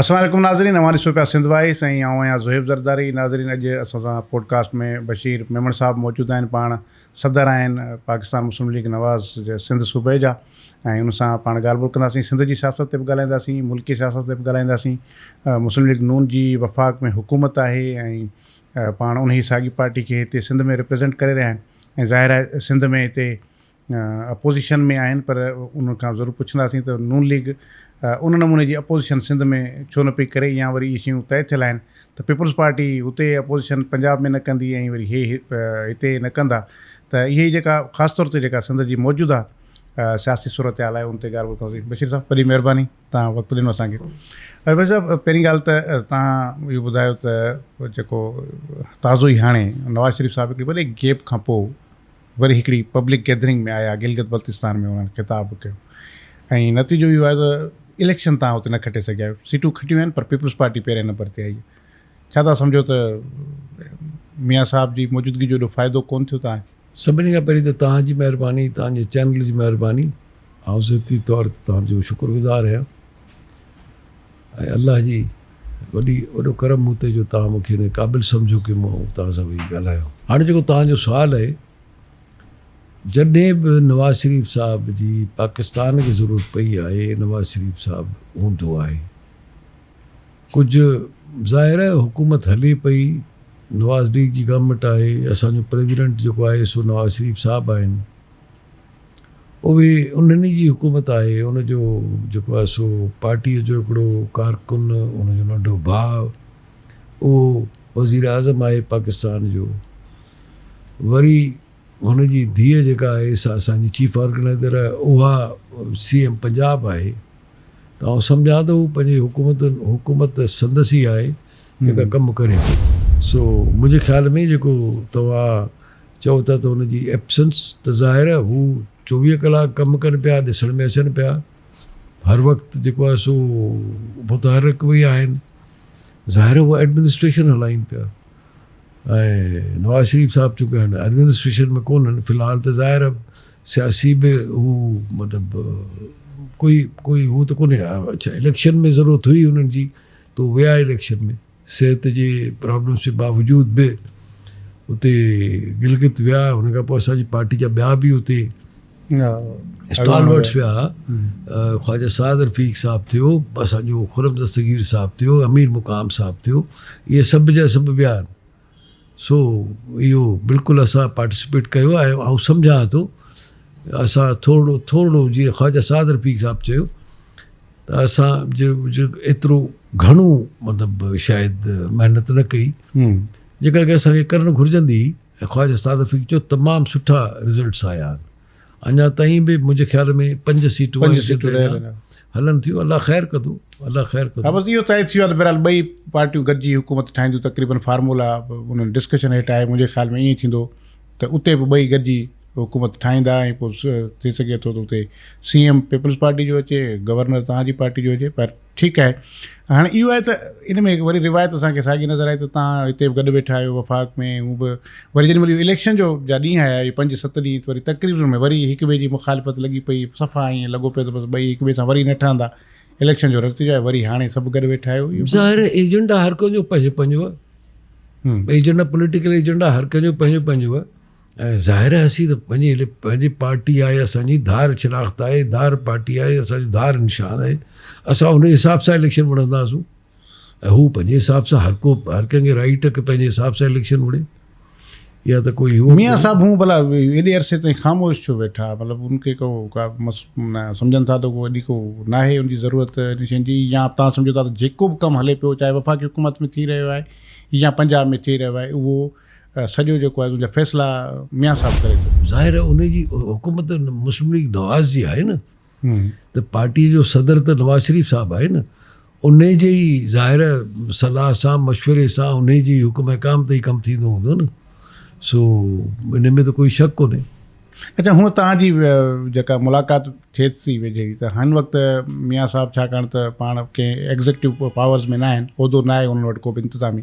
السلام عليڪم ناظرين اوهان ڏسو پيا سنڌ وائس ۽ آئون آهيان زوهيب زرداري ناظرين اڄ اسان سان پوڊڪاسٽ ۾ بشير ميمڻ صاحب موجود آهن پاڻ صدر آهن پاڪستان مسلم ليگ نواز جي سنڌ صوبي جا ۽ ان سان پاڻ ڳالهه ٻولهه ڪنداسين سنڌ جي سياست تي به ڳالهائينداسين ملڪي سياست تي به ڳالهائينداسين مسلم ليگ نون جي وفاق ۾ حڪومت آهي ۽ پاڻ انهي ساڳي پارٽي کي هتي سنڌ ۾ ريپريزينٽ ڪري رهيا آهن ۽ ظاهر آهي سنڌ ۾ هتي اپوزيشن ۾ آهن پر انهن کان ضرور پڇنداسين ته نون ليگ ان نموني جي اپوزيشن سنڌ ۾ ڇو نه پئي ڪري يا وري اهي شيون طئي ٿيل آهن ته پيپلز پارٽي هتي اپوزيشن پنجاب ۾ نه ڪندي ۽ وري هي هتي نه ڪندا ته اهي ئي جيڪا خاص طور تي جيڪا سنڌ جي موجوده سياسي صورتحال آهي ان تي ڳالهه ٻولهه ڪنداسين بشير صاحب وڏي مهرباني تان وقت ڏنو اسان کي بشير صاحب پهرين ڳالهه ته تان اهو ٻڌايو ته جيڪو تازو ئي هاڻي نواز شريف صاحب هڪڙي وڏي گيپ کان پوء وري هڪڙي پبلڪ گيدرنگ ۾ آيا گلگت بلتستان ۾ انهن خطاب به ڪيو ۽ نتيجو اهو آيو ته اليڪشن تان اتي نه کٽي سگهيا آهيو سيٽون کٽيون آهن پر پيپلز پارٽي پهرين نمبر تي آئي ڇا تها سمجهو ته ميان صاحب جي موجودگي جو ايڏو فائدو ڪون ٿيو تها کي. سڀني کان پهرين ته توهان جي مهرباني توهان جي چينل جي مهرباني آئون ذاتي طور توهان جو شڪر گذار آهيان. ۽ الله جي وڏي وڏو ڪرم مون تي جو توهان مون کي ان قابل سمجهيو ڪي مون توهان سان ويهي ڳالهايان. هاڻي جيڪو توهان جو سوال اهي جڏهن به نواز شريف صاحب جي پاڪستان کي ضرورت پئي آهي نواز شريف صاحب هوندو آهي ڪجهه ظاهر آهي حڪومت هلي پئي نواز ليگ جي گورنمينٽ آهي اسان جو پريزيڊنٽ جيڪو آهي سو نواز شريف صاحب آهن. اهي انهن جي حڪومت آهي. ان جو جيڪو آهي سو پارٽيء جو هڪڙو ڪارڪن، ان جو ننڍو ڀاء، اهو وزير اعظم آهي پاڪستان جو. وري هن جي ڌيء جيڪا آهي سا اسان جي چيف آرگنائيزر آهي، اها سي ايم پنجاب آهي. ته آئون سمجهان ٿو هو پنهنجي حڪومت حڪومت سندس ئي آهي. جيڪا ڪم ڪري ٿي سو منهنجي خيال ۾ جيڪو توهان چئو ٿا ته ان جي ايبسنس ته ظاهر آهي هو چوويهه ڪلاڪ ڪم ڪن پيا ڏسڻ ۾ اچن پيا هر وقت جيڪو آهي سو متحرڪ به آهن ظاهر آهي هو ايڊمنسٽريشن هلائين پيا ۽ نواز شريف صاحب چونڪه هن ايڊمنسٽريشن ۾ ڪون آهن في الحال ته ظاهر آهي سياسي به هو مطلب ڪوئي ڪوئي هو ته ڪونهي اڇا اليڪشن ۾ ضرورت هئي انهن جي تو ويا اليڪشن ۾ صحت جي پرابلمس جي باوجود به اتي گلگت ويا ان کان پوء اسان جي پارٽي جا ٻيا به اتي اسٽالورٽس ويا خواجه سعد رفيق صاحب ٿيو اسان جو خرم دستگير صاحب ٿيو امير مقام صاحب ٿيو اهي سڀ جا سڀ ويا سو اهو بلڪل اسان پارٽيسپيٽ ڪيو آهي آئون سمجهان ٿو اسان ٿورڙو ٿورڙو جيئن خواجه سعد رفيق صاحب چيو ته اسان جو جو ايترو گهڻو مطلب شايد محنت نه ڪئي جيڪا ڪي اسان کي ڪرڻ گهرجندي هئي ۽ خواجه سعد رفيق چيو تمام سٺا رزلٽس آيا آهن اڃا تائين به منهنجي خيال ۾ پنج سيٽون پنج سيٽون رهيل آهن هلن ٿيون الله خير ڪندو الله خير ڪندو بس اهو طئي ٿي ويو ته بهرحال ٻئي پارٽيون گڏجي حڪومت ٺاهينديون تقريبن فارمولا انهن ڊسڪشن هيٺ آهي منهنجي خيال ۾ ائين ئي ٿيندو ته اتي به ٻئي گڏجي حڪومت ٺاهيندا ۽ پوء ٿي سگهي ٿو ته اتي سي ايم پيپلز پارٽي جو اچي گورنر توهان جي پارٽي جو هجي پر ٺيڪ آهي هاڻي اهو آهي ته ان ۾ وري روايت اسان کي ساڳي نظر آئي ته تان هتي به گڏ ويٺا آهيو وفاق ۾ هو به وري جڏهن مل اليڪشن جو جا ڏينهن آيا اهي پنج ست ڏينهن وري تقريرن ۾ وري هڪ ٻئي جي مخالفت لڳي پئي صفا ائين لڳو پيو ته بس ٻئي هڪ ٻئي سان وري نه ٺهندا اليڪشن جو رتيجو آهي وري هاڻي سڀ گڏ ويٺا آهيو ظاهر ايجنڊا هر ڪنهن جو پنهنجو پنهنجو ايجنڊا پوليٽيڪل ايجنڊا هر ڪنهن جو پنهنجو پنهنجو ۽ ظاهر آهي اسين ته پنهنجي لپ پنهنجي پارٽي آهي اسان جي ڌار شناخت آهي ڌار پارٽي آهي اسان جو ڌار نشان آهي اسان ان حساب سان اليڪشن وڙهنداسون ۽ هو پنهنجي حساب سان هر ڪو هر ڪنهن کي رائٽ ڪي پنهنجي حساب سان اليڪشن وڙهي يا ته ڪوئي هو ميان صاحب هون بلا ايڏي عرصي تائين خاموش ڇو ويٺا مطلب ان کي ڪو ڪا سمجھن ٿا ته ڪو ايڏي ڪو ناهي ان جي ضرورت ان شين جي يا تان سمجھو ٿا ته جيڪو به ڪم هلي پيو چاهي وفاقي حڪومت ۾ ٿي رهيو آهي يا پنجاب ۾ ٿي رهيو آهي اهو سڄو جيڪو آهي تنهنجا فيصلا ميان صاحب ڪري ٿو. ظاهر آهي ان جي حڪومت مسلم ليگ نواز جي آهي نه ته پارٽي جو صدر ته نواز شريف صاحب آهي نه انهي جي ئي ظاهر صلاح سان مشوري سان انهي جي حڪم احڪام تي ئي ڪم ٿيندو هوندو نه سو ان ۾ ته ڪوئي شڪ ڪونهي. اچا هونء توهان جي جيڪا ملاقات ٿئي ٿي ويجهي ته هن وقت ميان صاحب ڇاڪاڻ ته پاڻ ڪنهن ايگزيڪٽو پاورز ۾ ناهن عهدو ناهي انهن وٽ ڪو به انتظامي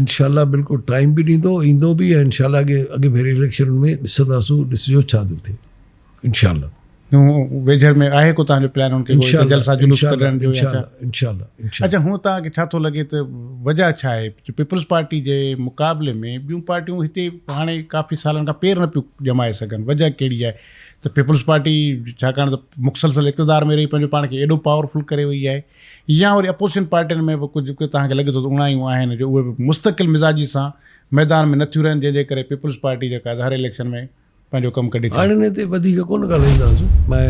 انشاء الله بلڪل ٽائيم به ڏيندو ايندو به ۽ انشاء الله اڳي اڳي ڀيري اليڪشن ۾ ڏسنداسون ڏسجو ڇا ٿو ٿئي انشاء الله ويجهڙ ۾ آهي ڪو تنهنجو پلان ان کي جلسا جلوس ڪڍڻ جو انشاء الله اچا هون تان کي ڇا ٿو لڳي ته وجهه ڇا آهي پيپلز پارٽي جي مقابلي ۾ ٻيون پارٽيون هتي هاڻي ڪافي سالن کان پير نه پيون ڄمائي سگهن وجهه ڪهڙي آهي ته پيپلز پارٽي ڇاڪاڻ ته مخصلصل اقتدار ۾ رهي پنهنجو پاڻ کي ايڏو پاورفل ڪري وئي آهي يا وري اپوزيشن پارٽين ۾ به ڪجهه ڪجهه توهان کي لڳي ٿو ته اوڻايون آهن جو اهي به مستقل مزاجي سان ميدان ۾ نه ٿيون رهن جنهن جي ڪري پيپلز پارٽي جيڪا آهي سا هر اليڪشن ۾ پنهنجو ڪم ڪڍي ٿي. هاڻي انهي تي وڌيڪ ڪونه ڳالهائينداسون ۽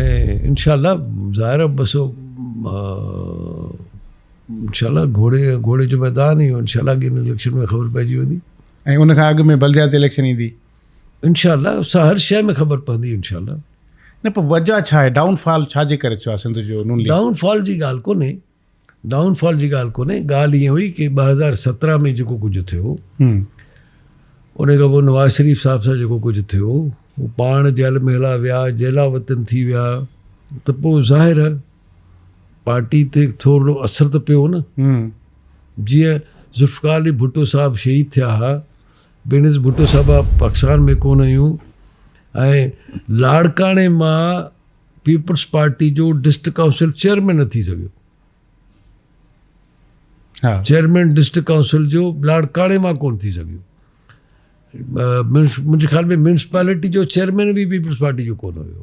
انشاء الله ظاهر آهي بس انشاء الله گهوڙي گهوڙي جو ميدان اهو انشاء الله اڳين اليڪشن ۾ خبر پئجي ويندي. ۽ ان کان اڳ ۾ بلدياتي اليڪشن ايندي. انشاء الله سا هر شيء ۾ خبر پوندي انشاء الله. نه پر وجه ڇا آهي ڊائون فال ڇا جي ڪري ٿيو آهي سنڌ جو نون ليگ؟ ڊائون فال جي ڳالهه ڪونهي ڊائون فال جي ڳالهه ڪونهي ڳالهه ائين هئي ڪي ٻه هزار سترهن ۾ جيڪو ڪجهه ٿيو ان کان پوء نواز شريف صاحب سان جيڪو ڪجهه ٿيو هو پاڻ جيل ۾ هلا ويا جيلا وطن ٿي ويا ته پوء ظاهر آهي پارٽي تي ٿورڙو اثر ته پيو نه جيئن ذوالفقار علي ڀٽو صاحب شهيد ٿيا هئا بينظير ڀٽو صاحب پاڪستان ۾ ڪونه هيون ۽ لاڙڪاڻي مان پيپلز پارٽي جو ڊسٽرڪٽ ڪائونسل چيئرمين نه ٿي سگهيو چيئرمين ڊسٽرڪٽ ڪائونسل جو لاڙڪاڻي مان ڪونه ٿي سگهيو منهنجي خيال ۾ ميونسپالٽي جو چيئرمين بي پيپلز پارٽي جو ڪونه هيو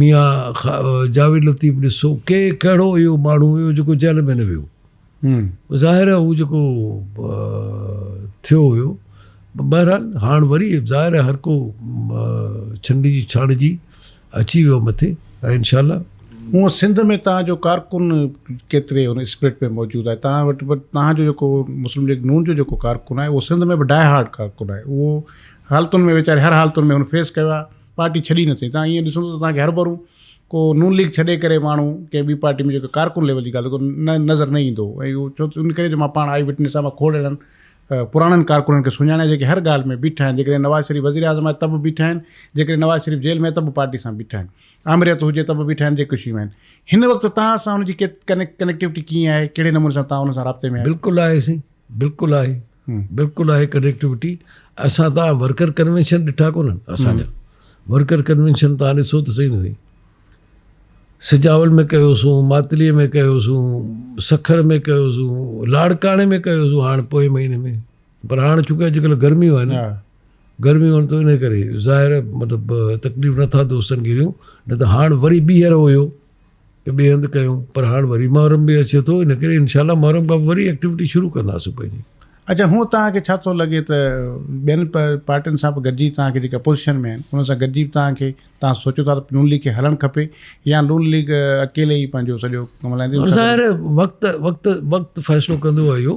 ميان جاويد لطيف ڏسو ڪي ڪهڙو اهو ماڻهو هيو جيڪو جيل ۾ نه ويو ظاهر آهي هو جيڪو ٿيو هيو بهرحال هاڻ وري ظاهر آهي هر ڪو ڇنڊ جي ڇاڻ جي اچي ويو مٿي ۽ انشاء الله هو سنڌ ۾ تان جو ڪارڪن ڪيتري ان اسپرٽ ۾ موجود آهي تان وٽ به تان جو جيڪو مسلم ليگ نون جو جيڪو ڪارڪن آهي اهو سنڌ ۾ به ڊاء هارڊ ڪارڪن آهي اهو حالتن ۾ ويچاري هر حالتن ۾ هن فيس ڪيو آهي پارٽي ڇڏي نه سگهي تان ايئن ڏسو ته تان کي هر ڀرو ڪو نون ليگ ڇڏي ڪري ماڻهو ڪنهن ٻي پارٽي ۾ جيڪو ڪارڪن ليول جي ڳالهه ڪو نظر نه ايندو ۽ اهو ڇو ان ڪري جو مان پاڻ آئي وٽنس آهيان مان کوڙ اهڙن پراڻن ڪارڪنن کي سڃاڻان جيڪي هر ڳالهه ۾ بيٺا آهن جيڪڏهن نواز شريف وزير اعظم آهي ته به بيٺا آهن جيڪڏهن نواز شريف جيل ۾ ته به پارٽي سان بيٺا آهن آمريت هجي ته به بيٺا آهن جيڪي شيون آهن هن وقت تان سان هن جي ڪنيڪٽيوٽي ڪيئن آهي ڪهڙي نموني سان تان هن سان رابطي ۾ بلڪل آهي سائين بلڪل آهي بلڪل آهي ڪنيڪٽيوٽي اسان ته ورڪر ڪنوينشن ڏٺا ڪونهن اسان جا ورڪر ڪنوينشن تان ڏسو ته صحيح نه سائين سجاول ۾ ڪيوسون ماتلي ۾ ڪيوسون سکر ۾ ڪيوسون لاڙڪاڻي ۾ ڪيوسون هاڻ پوء مهيني ۾ پر هاڻ ڇو ڪي اڄڪلهه گرميون آهن گرميون آهن ته ان ڪري ظاهر مطلب تڪليف نٿا دوستن کي ڏيون نه ته هاڻ وري ٻيهر هيو ته ٻئي هنڌ ڪيون پر هاڻ وري محرم به اچي ٿو ان ڪري انشاء الله محرم کان پوء وري ايڪٽيوٽي شروع ڪنداسون پنهنجي. اچا هونء توهان کي ڇا ٿو لڳي ته ٻين پارٽين سان به گڏجي توهان کي جيڪي اپوزيشن ۾ آهن انهن سان گڏجي به توهان کي توهان سوچيو ٿا ته نون ليگ کي هلڻ کپي يا نون ليگ اڪيلي ئي پنهنجو سڄو ڪم هلائيندي؟ ظاهر آهي وقت وقت وقت فيصلو ڪندو اهو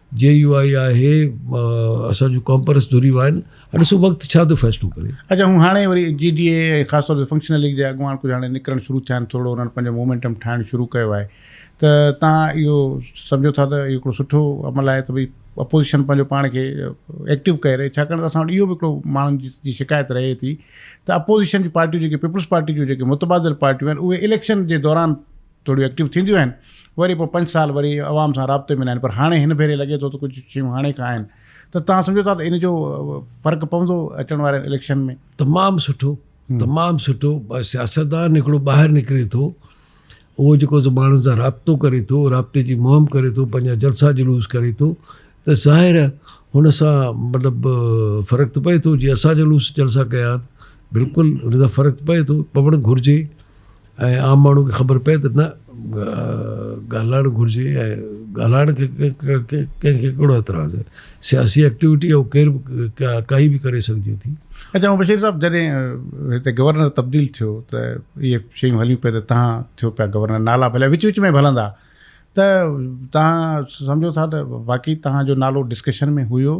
جي يو آء آهي اسان جون ڪانپرس ڌريون آهن هاڻي سو وقت ڇا ٿو فيصلو ڪري. اچا هون هاڻي وري جي ڊي اي خاص طور تي فنڪشنل ليگ جا اڳواڻ ڪجهه هاڻي نڪرڻ شروع ٿيا آهن ٿورڙو انهن پنهنجو مومينٽم ٺاهڻ شروع ڪيو آهي ته تان اهو سمجهو ٿا ته اهو هڪڙو سٺو عمل آهي ته ڀئي اپوزيشن پنهنجو پاڻ کي ايڪٽو ڪئي رهي ڇاڪاڻ ته اسان وٽ اهو به هڪڙو ماڻهن جي شڪايت رهي ٿي ته اپوزيشن جي پارٽيون جيڪي پيپلز پارٽي جون جيڪي متبادل پارٽيون آهن اهي اليڪشن جي دوران ٿوريون ايڪٽيو ٿينديون آهن وري پوء پنج سال وري عوام سان رابطي ۾ نه آهن پر هاڻي هن ڀيري لڳي ٿو ته ڪجهه شيون هاڻي کان آهن ته توهان سمجهو ٿا ته ان جو فرق پوندو اچڻ وارن اليڪشن ۾؟ تمام سٺو تمام سٺو سياستدان هڪڙو ٻاهر نڪري ٿو اهو جيڪو ماڻهن سان رابطو ڪري ٿو رابطي جي مهم ڪري ٿو پنهنجا جلسا جلوس ڪري ٿو ته ظاهر هن سان مطلب فرق ته پئي ٿو جي اسان جلوس جلسا ڪيا بلڪل هن سان فرق پئي ٿو پوڻ گهرجي ۽ عام ماڻهو کي خبر پئي ته نه ڳالهائڻ گهرجي ۽ ڳالهائڻ کي ڪنهن کي ڪهڙو اعتراض آهي سياسي ايڪٽيوٽي اهو ڪير به ڪائي به ڪري سگهجي ٿي. اچا بشير صاحب جڏهن هتي گورنر تبديل ٿيو ته اهي شيون هليون پيون ته تهان ٿيو پيا گورنر نالا ڀلي وچ وچ ۾ به هلندا ته تهان سمجهو ٿا ته واقعي تهان جو نالو ڊسڪشن ۾ هيو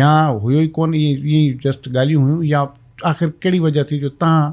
يا هيو ئي ڪونه ائين جسٽ ڳالهيون هيون يا آخر ڪهڙي وجه ٿي جو تهان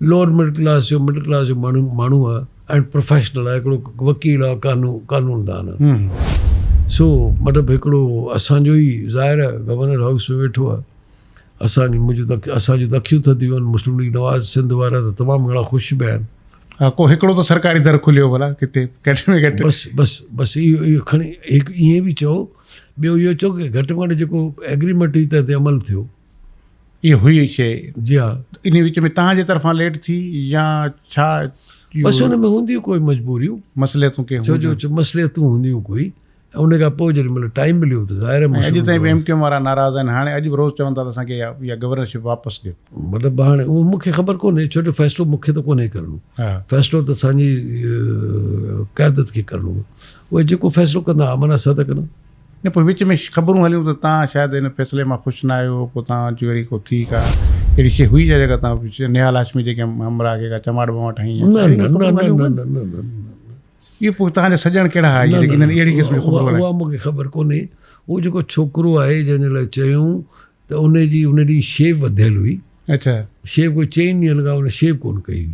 لوئر مڊل ڪلاس جو مڊل ڪلاس جو ماڻهو ماڻهو آهي ۽ پروفيشنل آهي هڪڙو وڪيل آهي قانون قانون دان آهي سو مطلب هڪڙو اسان جو ئي ظاهر آهي گورنر هائوس ۾ ويٺو آهي اسان جي منهنجو تڪ اسان جون تکيون ٿڌيون آهن مسلم ليگ نواز سنڌ وارا ته تمام گهڻا خوش به آهن ها ڪو هڪڙو ته سرڪاري در کليو ڀلا ڪٿي گهٽ ۾ گهٽ بس بس بس اهو اهو کڻي هڪ ائين به چئو ٻيو اهو چئو ڪي گهٽ ۾ گهٽ جيڪو ايگريمينٽ هئي تنهن تي عمل ٿيو اهي هئي شي جي ها انهي وچ ۾ تهان جي طرفان ليٽ ٿي يا ڇا بس ان ۾ هونديون ڪوئي مجبوريون مصلحتون ڪي هونديون ڇو جو مصلحتون هونديون ڪوئي ان کان پوء جڏهن مطلب ٽائيم مليو ته ظاهر آهي اڄ تائين ايم ڪيو وارا ناراض آهن هاڻي اڄ به روز چون ٿا ته اسان کي يا گورنر شپ واپس ڏيو مطلب هاڻي اهو مون کي خبر ڪونهي ڇو جو فيصلو مون کي ته ڪونهي ڪرڻو فيصلو ته اسان جي قيادت کي ڪرڻو اهي جيڪو فيصلو ڪندا امن آسا ٿا ڪن نه پوء وچ ۾ خبرون هليون ته تان شايد ان فيصلي مان خوش نه آهيو پوء تان اچي وري ڪو ٿي ڪا اهڙي شيء هئي ڇا جيڪا تان نهال هاشمي جي ڪنهن همراهه کي ڪا چماٽ وماٽ هنئي يا ڇا اهڙيون ڪا خبرون هليون هون نه نه نه اهي پوء تان جا سڄڻ ڪهڙا هئا جيڪي انهن اهڙي قسم جون خبرون هلائين. اها مون کي خبر ڪونهي اهو جيڪو ڇوڪرو آهي جنهن جي لاء چيون ته ان جي ان ڏينهن شيو وڌيل هئي اڇا. شيو ڪو چئن ڏينهن لڳا ان شيو ڪونه ڪئي هئي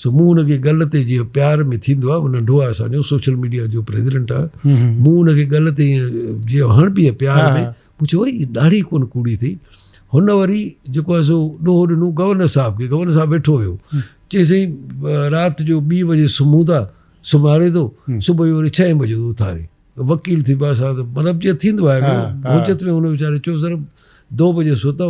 سو مون ان کي ڳل تي جيئن پيار ۾ ٿيندو آهي ننڍو آهي اسان جو سوشل ميڊيا جو پريزيڊنٽ آهي مون ان کي ڳل تي جيئن هڻ پيئي پيار ۾ مون چيو وئي ڏاڙهي ڪونه ڪوڙي ٿي هن وري جيڪو آهي سو ڏوهه ڏنو گورنر صاحب کي گورنر صاحب ويٺو هيو چي سائين رات جو ٻي بجي سمهون ٿا سمهاري ٿو صبح جو وري ڇهين بجي ٿو اٿاري وڪيل ٿي پاسا مطلب جيئن ٿيندو آهي حجت ۾ هن ويچاري چيو سر دو بجي سوتا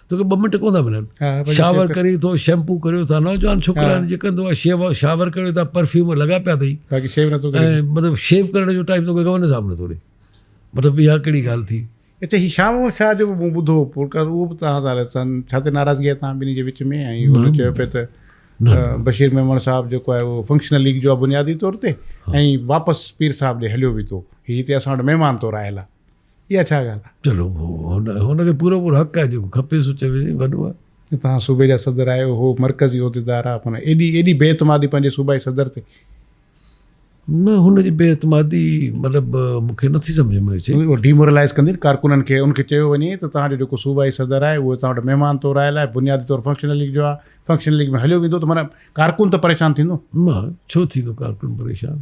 توکي ٻه منٽ ڪونه ٿا ملن شاور ڪري ٿو شيمپو ڪريو ٿا نوجوان ڇوڪرا جي ڪندو آهي شيو شاور ڪريو ٿا پرفيوم لڳا پيا اٿئي باقي شيو نٿو ڪري مطلب شيو ڪرڻ جو ٽائم توکي گون صاحب نٿو ڏي مطلب اها ڪهڙي ڳالهه ٿي هتي هي شام شاهه جو به مون ٻڌو پورڪار اهو به تان ٿا رسن ڇا ته ناراضگي آهي تان ٻنهي جي وچ ۾ ۽ هن چيو پيو ته بشير ميمڻ صاحب جيڪو آهي اهو فنڪشنل ليگ جو بنيادي طور تي ۽ واپس پير صاحب ڏي هليو به ٿو هي هتي اسان وٽ مهمان طور آيل آهي اها ڇا ڳالهه آهي؟ چلو هن کي پورو پورو حق آهي جيڪو کپيس سو چوي سائين وڏو آهي. جو توهان صوبي جا صدر آهيو هو مرڪزي عهديدار آهي پر ايڏي ايڏي بي اعتمادي پنهنجي صوبائي صدر تي. نه هن جي بي اعتمادي مطلب مون کي نٿي سمجهه ۾ اچي. اهو ڊي مورلائز ڪندي نه ڪارڪنن کي ان کي چيو وڃي ته توهان جو جيڪو صوبائي صدر آهي اهو توهان وٽ مهمان طور آيل آهي بنيادي طور فنڪشنل ليگ جو آهي فنڪشنل ليگ ۾ هليو ويندو ته معنيٰ ڪارڪن ته پريشان ٿيندو. نه ڇو ٿيندو ڪارڪن پريشان.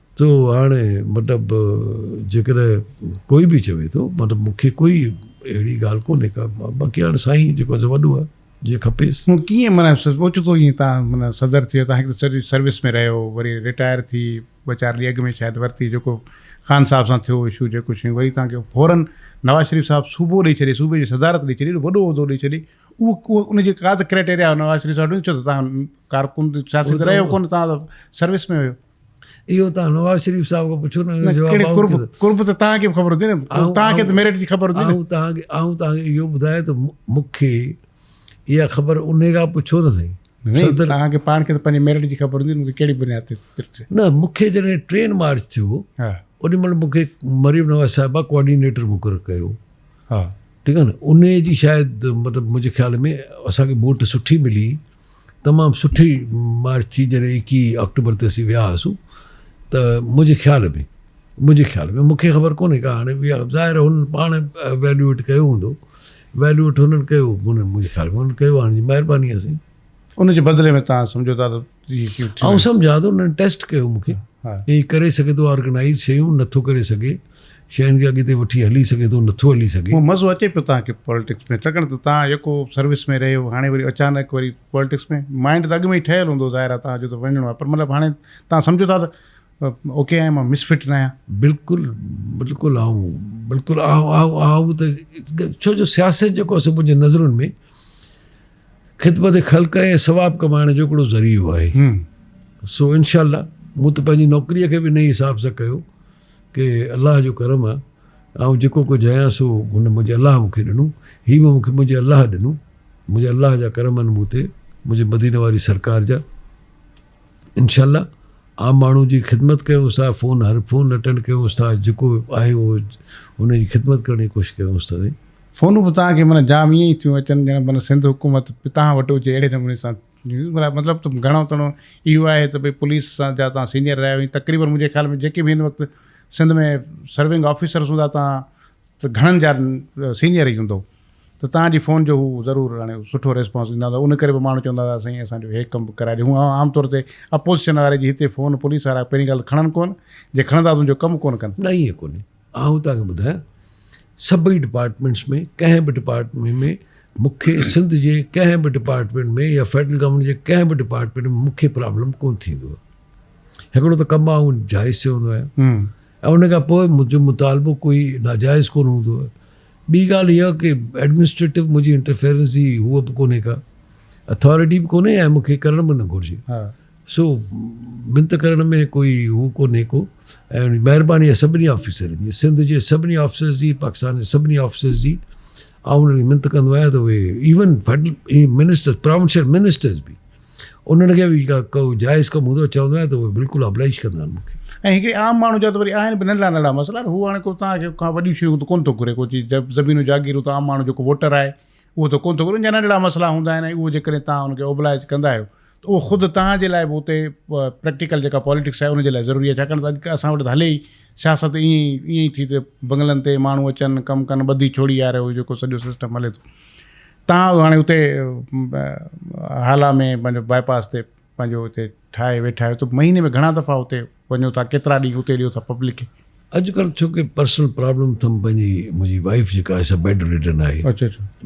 تو هاڻي مطلب جيڪڏهن ڪوئي به چوي ٿو مطلب مون کي ڪوئي اهڙي ڳالهه ڪونهي ڪا باقي هاڻي سائين جيڪو آهي سو وڏو آهي جيئن کپيس. مون ڪيئن معنيٰ اوچتو ائين تان معنيٰ صدر ٿيو تان هڪ ته سڄي سروس ۾ رهيو وري رٽائر ٿي ٻه چار ڏينهن اڳ ۾ شايد ورتي جيڪو خان صاحب سان ٿيو اشو جيڪو شيون وري تان کي فورن نواز شريف صاحب صوبو ڏئي ڇڏي صوبي جي صدارت ڏئي ڇڏي وڏو عهدو ڏئي ڇڏي اهو ان جي ڪا ته ڪرائيٽيريا نواز شريف صاحب ڏيو ڇو ته تان ڪارڪن سياسي ته رهيو ڪونه تان سروس ۾ هيو. اهو تان نواز شريف صاحب کان پڇو نه جو قرب قرب ته تان کي خبر هوندي نه تان کي ته ميرٽ جي خبر هوندي نه تان کي آئون تان کي اهو ٻڌايا ته مونکي اها خبر انهي کان پڇو نه سائين صدر تان کي پاڻ کي ته پنهنجي ميرٽ جي خبر هوندي مونکي ڪهڙي بنياد تي نه مونکي جڏهن ٽرين مارچ ٿيو انهي مهل مونکي مريم نواز صاحبه ڪوآرڊينيٽر مقرر ڪيو ها ٺيڪ آهي نه انهي جي شايد مطلب منهنجي خيال ۾ اسان کي ووٽ سٺي ملي تمام سٺي مارچ ٿي جڏهن ايڪيهه آڪٽوبر تي اسين ويا هئاسون ته منهنجي خيال ۾ منهنجي خيال ۾ مونکي خبر ڪونهي ڪا هاڻي ويا ظاهر هن پاڻ ويليوٽ ڪيو هوندو ويليوٽ هنن ڪيو منهنجي خيال ۾ هنن ڪيو هاڻي جي مهرباني آهي سائين ان جي بدلي ۾ تان سمجهو ٿا آئون سمجهان ٿو انهن ٽيسٽ ڪيو مونکي هي ڪري سگهي ٿو آرگنائز شيون نٿو ڪري سگهي شين کي اڳتي وٺي هلي سگهي ٿو نٿو هلي سگهي. مون مزو اچي پيو تهان کي پولٽڪس ۾ ڇاڪاڻ ته تهان يڪو سروس ۾ رهيو هاڻي وري اچانڪ وري پولٽڪس ۾ مائنڊ ته اڳ ۾ ئي ٺهيل هوندو ظاهر آهي تهان جو ته وڃڻو آهي پر مطلب هاڻي تهان سمجهو ٿا ته اوڪي آهيان مان مس فٽ نه آهيان. بلڪل بلڪل آئون بلڪل آئون آئون ته ڇو جو سياست جيڪو سو منهنجي نظرن ۾ خدمت خلق ۽ ثواب ڪمائڻ جو هڪڙو ذريعو آهي سو انشاء الله مون ته پنهنجي نوڪري کي به نئين حساب سان ڪيو کي الله جو ڪرم آ آئون جيڪو ڪجهه آهيان سو هن منهنجي الله مون کي ڏنو هي به مون کي منهنجي الله ڏنو منهنجي الله جا ڪرم آهن مون تي منهنجي مديني واري سرڪار جا انشاء الله عام ماڻهو جي خدمت ڪيونس ٿا فون هر فون اٽينڊ ڪيونس ٿا جيڪو آهي اهو ان جي خدمت ڪرڻ جي ڪوشش ڪيونس ٿا سائين فونون به توهان کي معنيٰ جام ائين ئي ٿيون اچن ڄڻ معنيٰ سنڌ حڪومت به توهان وٽ هجي اهڙي نموني سان مطلب ته گهڻو تڻو اهو آهي ته ڀئي پوليس سان جا تان سينئر رهيا آهيون تقريبن منهنجي خيال ۾ جيڪي به هن وقت سنڌ ۾ سرونگ آفيسرس هوندا تان ته گهڻن جا سينئر ئي هوندو ته تان جي فون جو هو ضرور هاڻي سٺو ريسپانس ڏيندا هوندا ان ڪري به ماڻهو چوندا هئا سائين اسان جو هي ڪم به ڪرائي ڏي هو عام طور تي اپوزيشن واري جي هتي فون پوليس وارا پهرين ڳالهه ته کڻن ڪون جي کڻندا ته هن جو ڪم ڪون ڪن نه ائين ڪونهي آئون توهان کي ٻڌايان سڀئي ڊپارٽمينٽس ۾ ڪنهن به ڊپارٽمينٽ ۾ مون کي سنڌ جي ڪنهن به ڊپارٽمينٽ ۾ يا فيڊرل گورنمينٽ جي ڪنهن به ڊپارٽمينٽ ۾ مون کي پرابلم ڪونه ٿيندو آهي هڪڙو ته ڪم آئون جائز چي هوندو آهيان ۽ ان کان پوء منهنجو مطالبو ڪوئي ناجائز ڪونه هوندو آهي ٻي ڳالهه اها ڪي ايڊمنسٽريٽو منهنجي انٽرفيرنس جي هو به ڪونهي ڪا اٿارٽي به ڪونهي ۽ مون کي ڪرڻ به نه گهرجي سو منت ڪرڻ ۾ ڪوئي هو ڪونهي ڪو ۽ مهرباني آهي سڀني آفيسرن جي سنڌ جي سڀني آفيسرس جي پاڪستان جي سڀني آفيسرس جي آئون انهن کي منت ڪندو آهيان ته اهي even federal minister provincial ministers به انهن کي به جيڪا ڪو جائز ڪم هوندو چوندو آهيان ته اهي بلڪل ابلائش ڪندا آهن مونکي ۽ هڪڙي عام ماڻهو جا ته وري آهن به ننڍڙا ننڍڙا مسئلا هو هاڻي ڪو توهان کي کان وڏيون شيون ته ڪونه ٿو گهري ڪو چيز زمينون جاگيرون ته عام ماڻهو جيڪو ووٽر آهي اهو ته ڪونه ٿو ڪري، ان جا ننڍڙا مسئلا هوندا آهن ۽ اهو جيڪڏهن توهان ان کي اوبلائج ڪندا آهيو ته اهو خود توهان جي لاء به اتي پريڪٽيڪل جيڪا پاليٽڪس آهي ان جي لاء ضروري آهي ڇاڪاڻ ته اڄ اسان وٽ ته هلي ئي سياست ائين ئي ائين ئي ٿي ته بنگلن تي ماڻهو اچن ڪم ڪن ٻڌي ڇوڙي يار اهو جيڪو سڄو سسٽم هلي ٿو تان هاڻي اتي هالا ۾ پنهنجو باء پاس تي پنهنجو اتي ٺاهي ويٺا آهيو ته مهيني ۾ گهڻا دفعا اتي وڃو ٿا ڪيترا ڏينهن اتي ڏيو ٿا پبلڪ کي. اڄ ڪلهه ڇو ڪي پرسنل پرابلم ٿم پنهنجي منهنجي وائيف جيڪا آهي سا بيڊ ريڊن آهي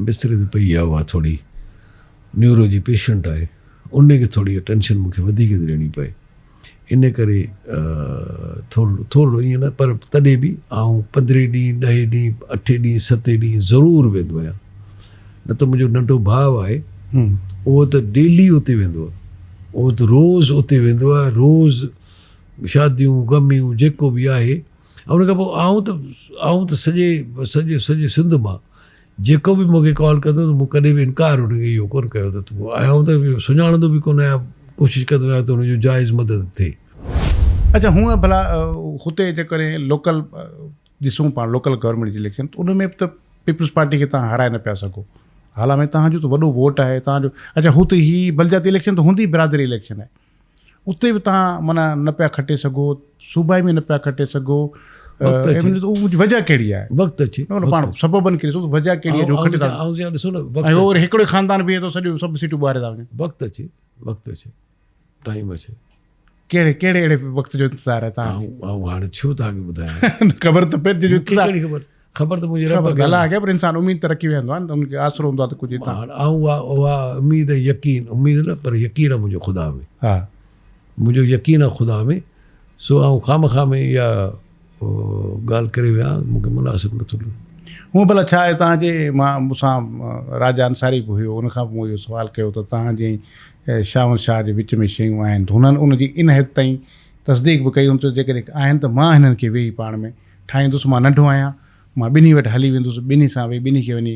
بستري تي پئي آهي اها ٿوري نيورو جي پيشنٽ آهي انهي کي ٿوري اٽينشن مونکي وڌيڪ ٿي ڏيڻي پئي انهي ڪري ٿورڙو ٿورڙو ائين نه پر تڏهن به آئون پندرهين ڏينهن ڏهين ڏينهن اٺين ڏينهن ستين ڏينهن ضرور ويندو آهيان نه ته منهنجو ننڍو ڀاء آهي اهو ته ڊيلي اتي ويندو آهي اهو ته روز اتي ويندو آهي روز شاديون غميون جيڪو به آهي ۽ ان کان پوء آئون ته آئون ته سڄي سڄي سڄي سنڌ مان جيڪو به مونکي ڪال ڪندو ته مون ڪڏهن به انڪار ان کي اهو ڪونه ڪيو ته تون آيا آئون ته سڃاڻندو به ڪونه آهيان ڪوشش ڪندو آهيان ته ان جو جائز مدد ٿئي اڇا هونء ڀلا هتي جيڪڏهن لوڪل ڏسون پاڻ لوڪل گورنمينٽ جي اليڪشن ته ان ۾ به ته پيپلز پارٽي کي تهان هارائي نه پيا سگهو هالا ۾ تهان جو ته وڏو ووٽ آهي تهان جو اچا هو ته هي بلدياتي اليڪشن ته هوندي برادري اليڪشن آهي اتي به تهان معنيٰ نه پيا کٽي سگهو صوبائي ۾ نه پيا کٽي سگهو وجه کي خاندان ٽائيم اچي ڪهڙي ڪهڙي اهڙي وقت جو انتظار آهي تان آئون هاڻي ڇو تان کي ٻڌايان خبر ته پئي جو انتظار ڪهڙي خبر خبر ته منهنجي رب کي الله کي پر انسان اميد ته رکي ويندو آهي ان کي آسرو هوندو آهي ته ڪجهه تان هاڻ آئون اها اها اميد يقين اميد نه پر يقين آهي منهنجو خدا ۾ ها منهنجو يقين آهي خدا ۾ سو آئون خامخواه ۾ اها ڳالهه ڪري ويا مون کي مناسب نٿو لڳو. هونء ڀلا ڇا آهي توهان جي مان مون سان راجا انصاري به هيو ان کان به مون اهو سوال ڪيو ته توهان جي ۽ شاهون شاهه جي وچ ۾ شيون آهن ته هنن ان جي ان حد تائين تصديق به ڪئي هن چيو جيڪڏهن آهن ته مان هنن کي ويهي پاڻ ۾ ٺاهيندس مان ننڍو آهيان مان ٻنهي وٽ هلي ويندس ٻنهي سان ويهي ٻنهي کي وڃي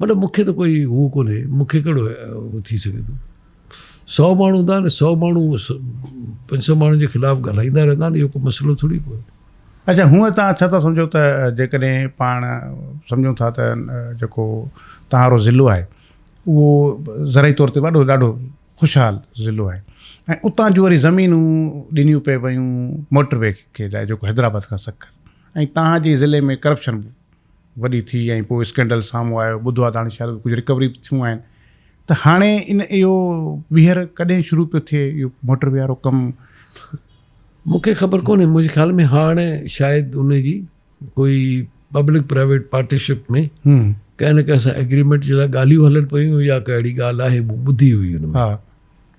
مطلب مون کي ته ڪوئي هو ڪونهي مون کي ڪهڙو هو ٿي سگهي ٿو سو ماڻهو هوندا آهن سو ماڻهو پنج سو ماڻهن جي خلاف ڳالهائيندا رهندا آهن اهو ڪو مسئلو ٿوري ڪو آهي اچا هونء تان ڇا ٿا سمجهو ته جيڪڏهن پاڻ سمجهون ٿا ته جيڪو تهارو ضلعو آهي اهو ذرائي طور تي وڏو ڏاڍو خوشحال ضلعو آهي ۽ اتان جون وري زمينون ڏنيون پئي ويون موٽر وي کي جيڪو حيدرآباد کان سکر ۽ تهان جي ضلعي ۾ ڪرپشن وڏي ٿي ۽ پوء اسڪينڊل سامهون آيو، ٻڌو آهي ته هاڻي شايد ڪجهه رڪوري به ٿيون آهن ته هاڻي ان اهو ٻيهر ڪڏهن شروع پيو ٿئي اهو موٽر وي وارو ڪم؟ مون کي خبر ڪونهي منهنجي خيال ۾ هاڻ شايد ان جي ڪوئي پبلڪ پرائيويٽ پارٽيشپ ۾ ڪنهن نه ڪنهن سان ايگريمينٽ جي لاء ڳالهيون هلن پيون يا ڪا اهڙي ڳالهه آهي مون ٻڌي هئي ان ۾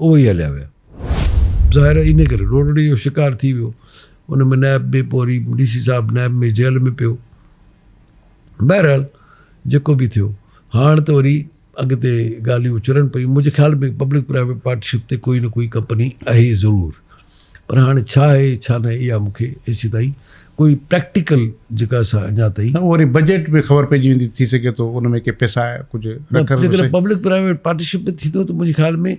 اهو ئي هليا ويا. ظاهر آهي انهيء ڪري روڙڙي جو شڪار ٿي ويو. ان ۾ نائب به پوء وري ڊي سي صاحب نائب ۾ جيل ۾ پيو. بهرحال جيڪو به ٿيو هاڻ ته وري اڳتي ڳالهيون چرن پيون. منهنجي خيال ۾ پبلڪ پرائيويٽ پارٽنرشپ تي ڪوئي نه ڪوئي ڪمپني اهي ضرور. پر هاڻي ڇا آهي ڇا نه اها مون کي ايسي تائين ڪوئي پريڪٽيڪل جيڪا اسان اڃا تائين نه وري بجيٽ به خبر پئجي ويندي ٿي سگهي ٿو ان ۾ ڪي پيسا ڪجهه رکر جيڪڏهن پبلڪ پرائيويٽ پارٽنرشپ به ٿيندو ته منهنجي خيال ۾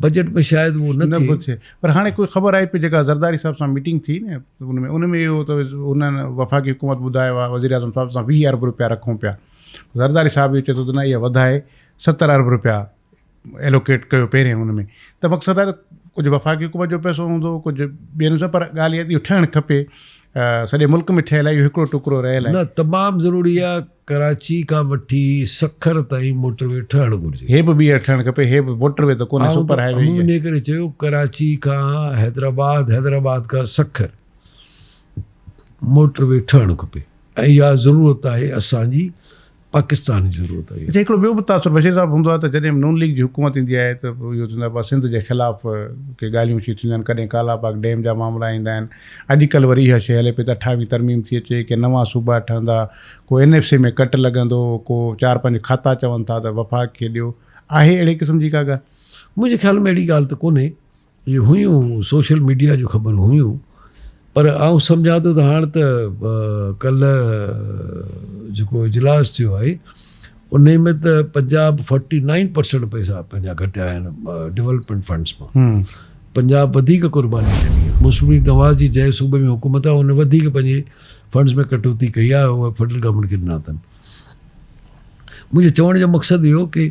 بجيٽ ۾ شايد اهو نه نه ٿئي پر هاڻي ڪوئي خبر آئي پئي جيڪا زرداري صاحب سان ميٽنگ ٿي نه ان ۾ ان ۾ اهو ته انهن وفاقي حڪومت ٻڌايو آهي وزير اعظم صاحب سان ويهه ارب روپيا رکون پيا زرداري صاحب اهو چئي ٿو ته نه اها وڌائي ستر ارب روپيا ايلوڪيٽ ڪيو پهرين ان ۾ ته مقصد آهي ڪجهه وفاقي حڪومت جو پئسو هوندو ڪجهه ٻين جو پر ڳالهه اها اهو ٺهڻ کپي سڄي ملڪ ۾ ٺهيل آهي اهو هڪڙو ٽڪرو رهيل آهي نه تمام ضروري آهي ڪراچي کان وٺي سکر تائين موٽر وي ٺهڻ گهرجي هي به ٻيهر ٺهڻ کپي هي به موٽر وي ته ڪونه سپر هاء وي ان ڪري چيو ڪراچي کان حيدرآباد حيدرآباد کان سکر موٽر وي ٺهڻ کپي ۽ اها ضرورت آهي اسان جي پاڪستان جي ضرورت آهي. هتي هڪڙو ٻيو به تاثر بشير صاحب هوندو آهي ته جڏهن به نون ليگ جي حڪومت ايندي آهي ته اهو ٿيندو آهي سنڌ جي خلاف ڪي ڳالهيون شيون ٿينديون آهن ڪڏهن ڪالا باغ ڊيم جا معاملا ايندا آهن اڄ ڪلهه وري اها شيء هلي پئي ته اٺاويهه ترميم ٿي اچي ڪي نوان صوبا ٺهندا ڪو اين ايف سي ۾ ڪٽ لڳندو ڪو چار پنج کاتا چون ٿا ته وفاق کي ڏيو آهي اهڙي قسم جي ڪا ڳالهه؟ منهنجي خيال ۾ اهڙي ڳالهه ته ڪونهي. اهي هيون سوشل ميڊيا جون خبرون هيون پر آئون سمجهان ٿو ته هاڻ ته ڪلهه جيڪو اجلاس ٿيو آهي ان ۾ ته پنجاب فورٽي نائن پرسنٽ پئسا پنهنجا گهٽيا آهن ڊولپمينٽ فنڊس مان پنجاب وڌيڪ قرباني ڏني آهي موسمي نواز جي جنهن صوبي ۾ حڪومت آهي ان وڌيڪ پنهنجي فنڊس ۾ ڪٽوتي ڪئي آهي فيڊرل گورنمينٽ کي ڏنا اٿن منهنجي چوڻ جو مقصد اهو هو ته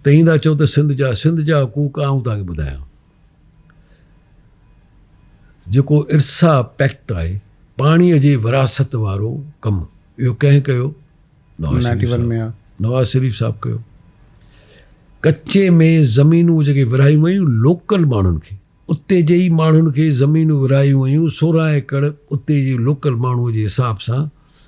تهين ٿا چئو ته سنڌ جا سنڌ جا حقوق آئون توهان کي ٻڌايان. جيڪو ارسا پيڪٽ آهي پاڻي جي وراثت وارو ڪم اهو ڪنهن ڪيو؟ نواز شريف صاحب ڪيو. ڪچي ۾ زمينون جيڪي ورهايون ويون لوڪل ماڻهن کي اتي جي ئي ماڻهن کي زمينون ورهايون ويون سورهن ايڪڙ اتي جي لوڪل ماڻهو جي حساب سان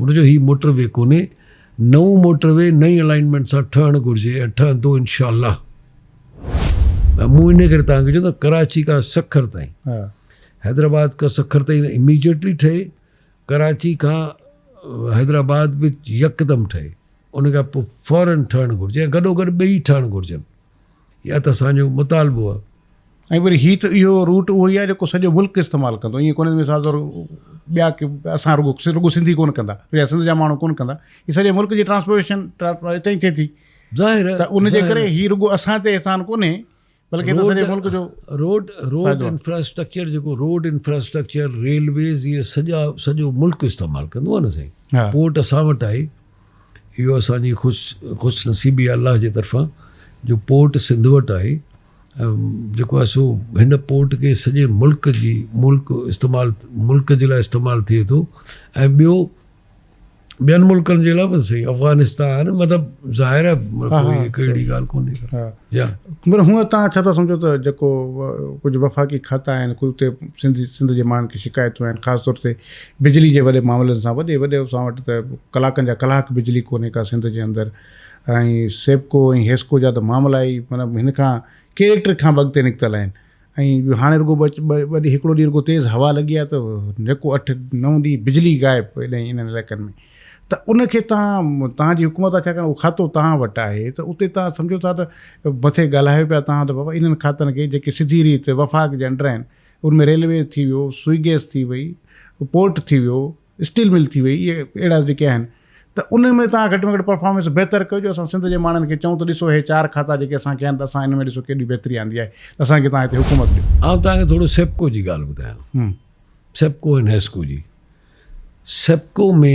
هن چيو هي موٽر وي ڪونهي، نئون موٽر وي نئين الائنمينٽ سان ٺهڻ گهرجي ۽ ٺهندو انشاء الله. مون ان ڪري توهان کي چيو ته ڪراچي کان سکر تائين، حيدرآباد کان سکر تائين ته اميڊيٽلي ٺهي، ڪراچي کان حيدرآباد به يڪدم ٺهي، ان کان پوء فورن ٺهڻ گهرجي ۽ گڏوگڏ ٻئي ٺهڻ گهرجن. اها ته اسان جو مطالبو آهي. ۽ وري هي ته اهو روٽ اهو ئي آهي جيڪو سڄو ملڪ استعمال ڪندو ائين ڪونهي مثال طور ٻيا ڪي اسان رڳو رڳو سنڌي ڪونه ڪندا يا سنڌ جا ماڻهو ڪونه ڪندا هي سڄي ملڪ جي ٽرانسپورٽيشن هتي ئي ٿئي ٿي ظاهر ته ان جي ڪري هي رڳو اسان تي احسان ڪونهي بلڪه ته سڄي ملڪ جو روڊ روڊ انفراسٽرڪچر جيڪو روڊ انفراسٽرڪچر ريلويز اهي سڄا سڄو ملڪ استعمال ڪندو آهي نه سائين پورٽ اسان وٽ آهي اهو اسان جي خوش نصيبي آهي الله جي طرفان جو پورٽ سنڌ وٽ آهي ۽ جيڪو آهي سو هن پورٽ کي سڄي ملڪ جي ملڪ استعمال ملڪ جي لاء استعمال ٿئي ٿو ۽ ٻيو ٻين ملڪن جي لاء به صحيح افغانستان مطلب ظاهر آهي ڪهڙي اهڙي ڳالهه ڪونهي مگر هونء تان ڇا ٿا سمجهو ته جيڪو ڪجهه وفاقي کاتا آهن ڪجهه اتي سنڌ سنڌ جي ماڻهن کي شڪايتون آهن خاص طور تي بجلي جي وڏي معاملن سان وڏي وڏي اسان وٽ ته ڪلاڪن جا ڪلاڪ بجلي ڪونهي ڪا سنڌ جي اندر ۽ سيپڪو ۽ هيسڪو جا ته معاملا ئي مطلب هن کان ڪيليڪٽرڪ کان به اڳتي نڪتل آهن ۽ هاڻي رڳو ٻه ڏينهن هڪڙو ڏينهن رڳو تيز هوا لڳي آهي ته نڪو اٺ نو ڏينهن بجلي غائب هيڏانهن انهن علائقن ۾ ته ان کي تان تان جي حڪومت آهي ڇاڪاڻ اهو کاتو تان وٽ آهي ته اتي تان سمجهو ٿا ته مٿي ڳالهايو پيا تان ته بابا انهن کاتن کي جيڪي سڌي ريت وفاق جي انڊر آهن ان ۾ ريلوي ٿي ويو، سوئي گيس ٿي وئي، پورٽ ٿي ويو، اسٽيل مل ٿي وئي، اهي اهڙا جيڪي آهن ته ان ۾ توهان گهٽ ۾ گهٽ پرفارمنس بهتر ڪيو جو اسان سنڌ جي ماڻهن کي چئون ته ڏسو هي چار کاتا جيڪي اسان کي آهن ته اسان ان ۾ ڏسو ڪيڏي بهتري آندي آهي ته اسان کي توهان هتي حڪومت ڏيو. آئون توهان کي ٿورو سيپڪو جي ڳالهه ٻڌايان. سيپڪو ۽ نيسڪو جي. سيپڪو ۾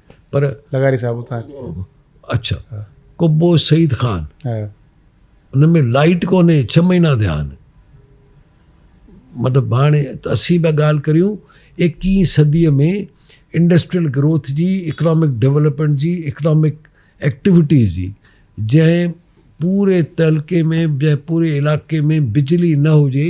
پر لغاري صاحب اتان اچھا قبو سعيد خان ان ۾ لائيٽ ڪونهي ڇهه مهينا ٿيا آهن مطلب هاڻي اسين پيا ڳالهه ڪريون ايڪيهين صديء ۾ انڊسٽريل گروٿ جي اڪنامڪ ڊولپمينٽ جي اڪنامڪ ايڪٽيوٽيز جي جنهن پوري تعلقي ۾ جنهن پوري علائقي ۾ بجلي نه هجي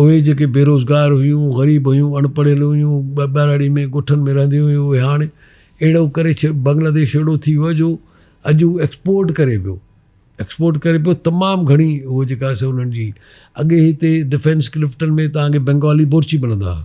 اهي جيڪي بيروزگار هيون، غريب هيون، اڻ پڙهيل هيون، ٻهراڙي ۾ ڳوٺن ۾ رهنديون هيون اهي هاڻ اهڙو ڪري بنگلاديش اهڙو ٿي ويو آهي جو اڄ هو ايڪسپورٽ ڪري پيو ايڪسپورٽ ڪري پيو تمام گهڻي هو جيڪا سي انهن جي اڳي هتي ڊفينس ڪلفٽن ۾ تهانکي بنگالي بورچي ملندا هئا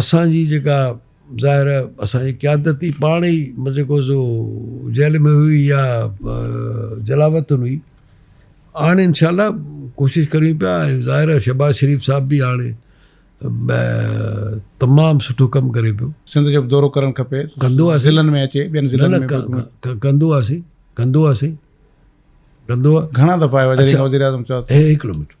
اسان جي جيڪا ظاهر اسان جي قيادت ئي پاڻ ئي جيڪو سو جيل ۾ هئي يا جلاوطن هئي هاڻي انشاء الله ڪوشش ڪريون پيا ۽ ظاهر آهي شهباز شريف صاحب بي هاڻي تمام سٺو ڪم ڪري پيو سنڌ جو به دورو ڪرڻ کپي ڪندو آهي ضلعن ۾ اچي ٻين ضلعن ۾ ڪندو آهي سي ڪندو آهي سي ڪندو آهي گهڻا دفعا وزير اعظم چوٿ هي هڪ منٽ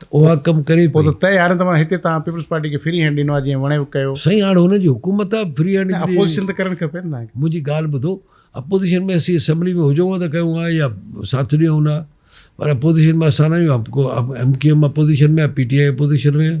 ته اها ڪم ڪري پئي. پوء ته طئي هارين ته معنيٰ هتي توهان پيپلز پارٽي کي فري هينڊ ڏنو آهي جيئن وڻيو ڪيو. سائين هاڻ هن جي حڪومت آهي فري هينڊ. نه اپوزيشن ته ڪرڻ کپي نه توهان کي. منهنجي ڳالهه ٻڌو اپوزيشن ۾ اسين اسيمبلي ۾ هجون ها ته ڪيون ها يا ساٿ ڏيون ها پر اپوزيشن ۾ اسان نه آهيون ايم ڪيو ايم اپوزيشن ۾ آهي پي ٽي آء اپوزيشن ۾ آهي.